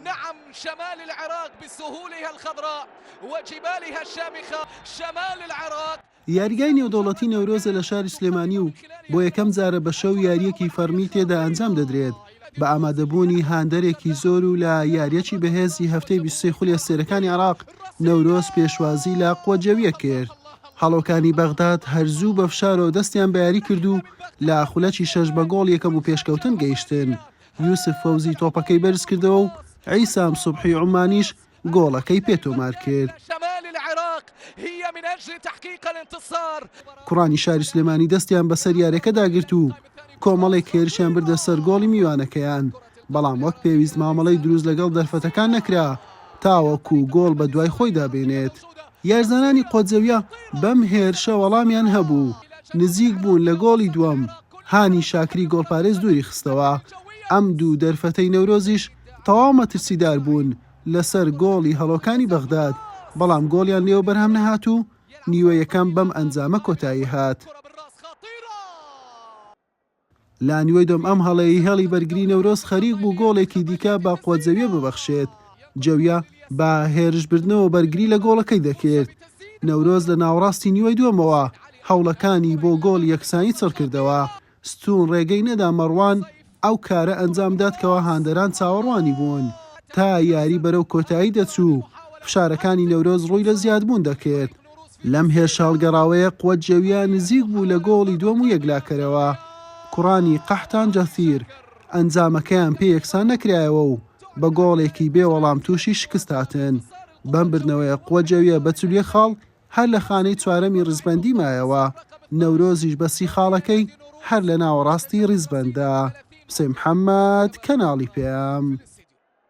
نعم شمال العراق بسهولها الخضراء وجبالها الشامخة شمال العراق. یاریگای نێودەوڵەتی نەورۆزە لە شاری سلێمانی و بۆ یەکەم جارە بە شەو یارییەکی فەڕمی تێدا ئەنجام دەدرێت بە ئامادەبوونی هاندەرێکی زۆر و لە یارییەکی بەهێزی هەفتەی بیست و سێ خولی ئەستێرەکانی عێراق نەورۆز پێشوازی لە قوە جەوییە کرد. هەڵۆکانی بەغداد هەر زوو بە فشارەوە دەستیان بە یاری کرد و لە خولەکی شەش بە گۆڵ یەکەم و پێشکەوتن گەیشتن. یوسف فەوزی تۆپەکەی بەرزکردەوە و عیسام سوبحی عومانیش گۆڵەکەی پێ تۆمارکرد. کوڕانی شاری سلێمانی دەستیان بەسەر یاریەکەدا گرت و کۆمەڵێک هێرشیان بردە سەر گۆڵی میوانەکەیان بەڵام وەک پێویست مامەڵەی دروست لەگەڵ دەرفەتەکان نەکرا تاوەکو گۆڵ بە دوای خۆیدا بێنێت. یارزانانی قۆزەویە بەم هێرشە وەڵامیان هەبوو و نزیک بوون لە گۆڵی دووەم، هانی شاکری گۆڵپارێز دووری خستەوە. ئەم دوو دەرفەتەی نەورۆزیش تەواو مەترسیدار بوون لەسەر گۆڵی هەڵۆکانی بەغداد، بەڵام گۆڵیان لێوە بەرهەم نەهات و نیوە یەکەم بەم ئەنجامە کۆتایی هات. لانیوەی دۆم ئەم هەڵەیەی هێڵی بەرگری نەورۆز خەریک بوو گۆڵێکی دیکە بە قۆزەویە ببەخشێت، جەویە بە هێرشبردنەوە بەرگری لە گۆڵەکەی دەکرد، نەورۆز لە ناوەڕاستی نیوەی دووەمەوە هەوڵەکانی بۆ گۆڵی یەکسانی چڕکردەوە، ستوون رێگەی نەدا مەڕوان ئەو کارە ئەنجام بدات کەوا هاندەران چاوەڕوانی بوون، تا یاری بەرەو کۆتایی دەچوو فشارەکانی نەورۆز رووی لە زیادبوون دەکرد، لەم هێرشهەڵگەڕاوەیە قوەت جەوییە نزیک بوو لە گۆڵی دووەم و یەکلاکەرەوە کوڕانی قەحتان جەثیر ئەنجامەکەیان پێ یەکسان نەکرایەوە و بە گۆڵێکی بێ وەڵام تووشی شکست هاتن بەم بردنەوەیە قوە جەوییە بە چل و یەک خاڵ هەر لە خانەی چوارەمی ڕیزبەندی مایەوە نەورۆزیش بە سی خاڵەکەی هەر لە ناوەڕاستی ڕیزبەندە. حسێن محەممەد، کەناڵی پەیام.